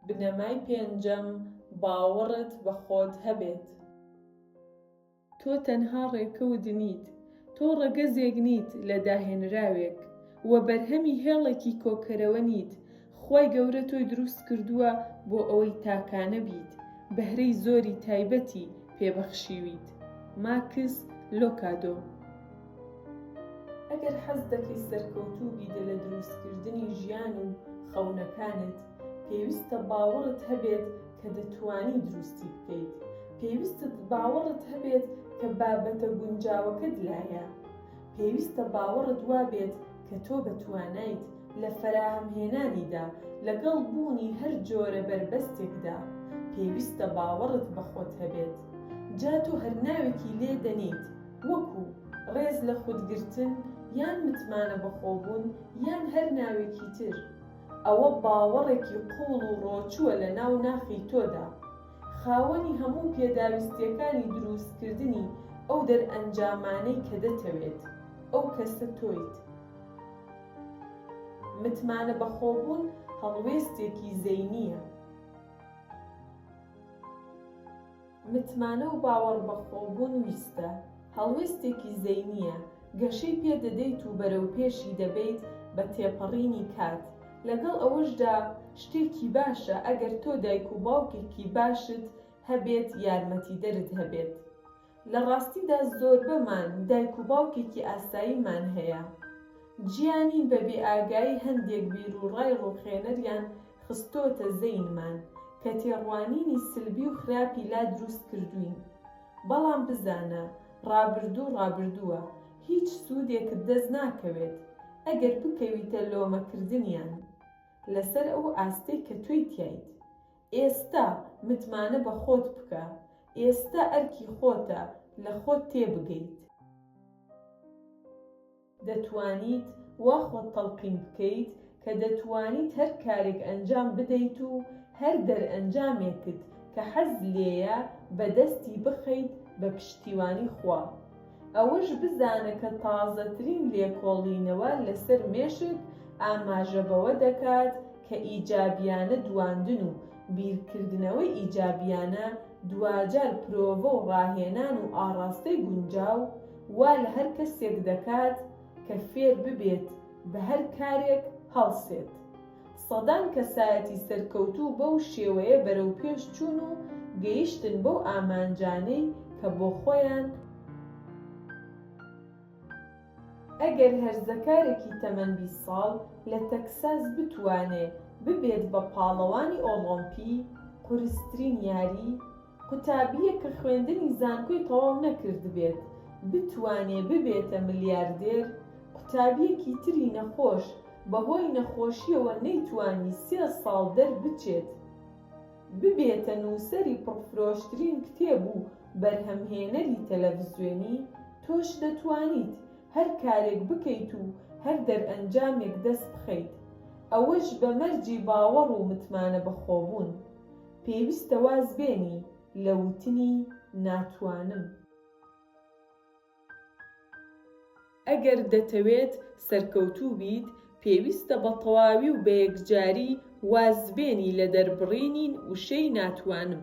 بنەمای پێنجەم، باوەڕت بە خۆت هەبێت. تۆ تەنها ڕێکەوت نیت، تۆ ڕەگەزێک نیت لە داهێنراوێک و بەرهەمی هێڵێکی کۆکەرەوە نیت، خوای گەورە تۆی دروست کردووە بۆ ئەوەی تاکانە بیت، بەهرەی زۆری تایبەتی پێ بەخشیویت. ماکس لۆکادۆ. ئەگەر حەز دەکەی سەرکەوتوو بیت لە دروستکردنی ژیان و خەونەکانت، پێویستە باوەڕت هەبێت کە دەتوانی دروستی بکەیت. پێویستت باوەڕت هەبێت کە بابەتە گونجاوەکەت لایە. پێویستە باوەڕت وابێت کە تۆ بە توانایت لە فەراهەمهێنانیدا لەگەڵ بوونی هەر جۆرە بەربەستێکدا. پێویستە باوەڕت بە خۆت هەبێت. جا تۆ هەر ناوێکی لێ دەنێیت، وەکو، ڕێز لە خود گرتن یان متمانە بەخۆبوون یان هەر ناوێکی تر، ئەوە باوەڕێکی قووڵ و ڕۆچووە لە ناو ناخی تۆدا، خاوەنی هەموو پێداویستییەکانی درووستکردنی ئەو دەرئەنجامانەی کە دەتەوێت، ئەو کەسە تۆیت. متمانە بەخۆبوون هەڵوێستێکی زەینییە. متمانە و باوەڕبەخۆبوون ویستە، هەڵوێستێکی زەینییە، گەشەی پێ دەدەیت و بەرەوپێشی دەبەیت بە تێپەڕینی کات، لەگەڵ ئەوەشدا شتێکی باشە ئەگەر تۆ دایک و باوکێکی باشت هەبێت یارمەتیدەرت هەبێت. لە ڕاستیدا زۆربەمان دایک و باوکێکی ئاساییمان هەیە، گیانی بە بێ ئاگایی هەندێک بیرو ڕای ڕوخێنەریان خستۆتە زەینمان کە تێڕوانینی سلبی و خراپی لا دروست کردوین بەڵام بزانە ڕابردوو ڕابردووە هیچ سودێکت دەست ناکەوێت ئەگەر بکەویتە لۆمە کردنیان لەسەر ئەو ئاستەی کە تۆی تیایت ئێستا متمانە بە خۆت بکە ئێستا ئەرکی خۆتە لە خۆت تێبگەیت. دەتوانیت وا خۆت تەڵقین بکەیت کە دەتوانیت هەر کارێک ئەنجام بدەیت و هەر دەرئەنجامێکت کە حەز لێیە بە دەستی بخەیت بە پشتیوانی خوا. ئەوەش بزانە کە تازەترین لێکۆڵینەوە لەسەر مێشک ئاماژە بەوە دەکات کە ئیجابیانە دواندن و بیرکردنەوەی ئیجابیانە دواجار پرۆڤە و ڕاهێنان و ئاڕاستەی گونجاو وا لە هەر کەسێک دەکات کە فێر ببێت بە هەر کارێک هەڵسێت. سەدان کەسایەتی سەرکەوتوو بەو شێوەیە بەرەو پێش چوون و گەیشتن بەو ئامانجانەی کە بۆ خۆیان. ئەگەر هەرزەکارێکی تەمەن بیست ساڵ لە تەکساس بتوانێ ببێت بە پاڵەوانی ئۆڵۆمپی، قورسترین یاری، قوتابییەک کە خوێندنی زانکۆی تەواو نەکردبێت بتوانێ ببێتە ملیاردێر؟ قوتابییەکی تری نەخۆش بەهۆی نەخۆشییەوە نەیتوانی سێ ساڵ دەربچێت ببێتە نووسەری پڕفرۆشترین کتێب و بەرهەمهێنەری تەلەڤزیۆنی؟ تۆش دەتوانیت هەر کارێک بکەیت و هەر دەرئەنجامێک دەستبخەیت، ئەوەش بە مەرجی باوەڕ و متمانەبەخۆبوون. پێویستە واز بێنی لە وتنی ناتوانم. ئەگەر دەتەوێت سەرکەوتوو بیت، پێویستە بە تەواوی و بە یەکجاری واز بێنی لە دەربڕینی وشەی ناتوانم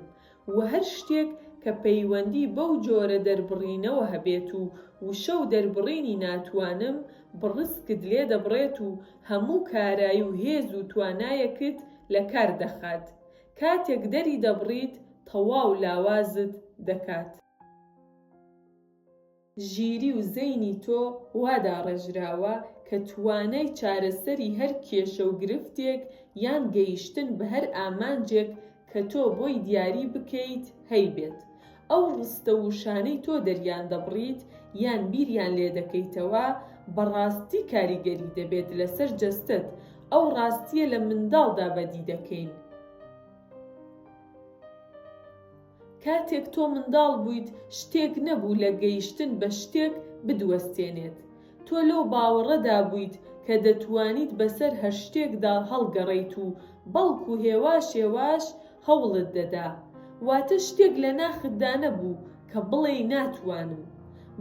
و هەر شتێک کە پەیوەندی بەو جۆرە دەربڕینەوە هەبێت و وشە و دەربڕینی ناتوانم بڕسکت لێ دەبڕێت و هەموو کارای و هێز و توانایەکت لە کار دەخات، کاتێک دەری دەبڕیت تەواو لاوازت دەکات. ژیری و زەینی تۆ وا داڕێژراوە کە توانای چارەسەری هەر کێشە و گرفتێک یان گەیشتن بە هەر ئامانجێک کە تۆ بۆی دیاری بکەیت هەیبێت ئەو ڕستە و وشانەی تۆ دەریان دەبڕیت یان بیریان لێ دەکەیتەوە بە ڕاستی کاریگەری دەبێت لەسەر جەستەت ئەو ڕاستیە لە منداڵدا بەدی دەکەین کاتێک تۆ منداڵ بوویت شتێک نەبوو لە گەیشتن بە شتێک بدوەستێنێت تۆ لەو باوەڕەدا بوویت کە دەتوانیت بەسەر هەر شتێکدا هەڵگەڕێیت و بەڵکو هێواش هێواش هەوڵت دەدا. واتە شتێک لە ناختدا نەبوو کە بڵێی ناتوانم.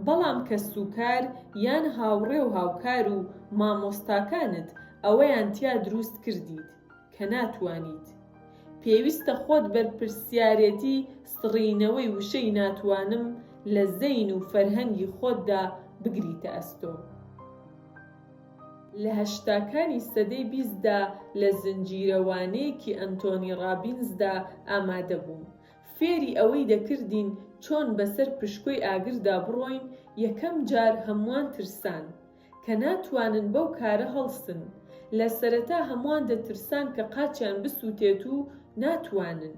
بەڵام کەسوکار یان هاوڕێ و هاوکار و مامۆستاکانت ئەوەیان تیا دروست کردیت. کە ناتوانیت. پێویستە خۆت بەرپرسیارێتی سڕینەوەی وشەی ناتوانم لە زەین و فەرهەنگی خۆتدا بگریتە ئەستۆ. لە هەشتاکانی سەدەی بیستدا لە زنجیرەوانەیەکی ئەنتۆنی ڕابینزدا ئامادەبووم. فێری ئەوەی دەکردین چۆن بەسەر پشکۆی ئاگردا بڕۆین، یەکەم جار هەمووان ترسان. کە ناتوانن بەو کارە هەڵسن، لە سەرەتا هەمووان دەترسان کە قاچیان بسووتێت و ناتوانن.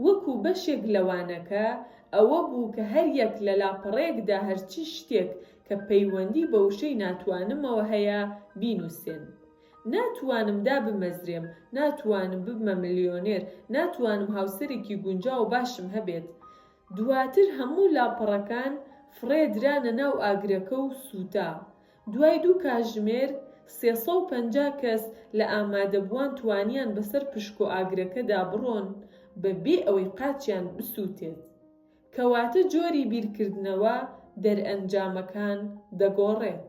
وەکو بەشێک لە وانەکە ئەوە بوو کە هەریەک لە لاپەڕەیەکدا هەرچی شتێک کە پەیوەندی بە وشەی ناتوانمەوە هەیە بینووسێن. ناتوانم دابمەزرێم، ناتوانم ببمە ملیۆنێر، ناتوانم هاوسەرێکی گونجاو و باشم هەبێت، دواتر هەموو لاپەڕەکان فڕێ درانە ناو ئاگرەکە و سووتا. دوای دوو کاژمێر، سێ سەد و پەنجا کەس لە ئامادەبووان توانیان بەسەر پشکۆ ئاگرەکەدا بڕۆن بە بێ ئەوەی قاچیان بسووتێت. کەواتە جۆری بیرکردنەوە دەرئەنجامەکان دەگۆڕێت.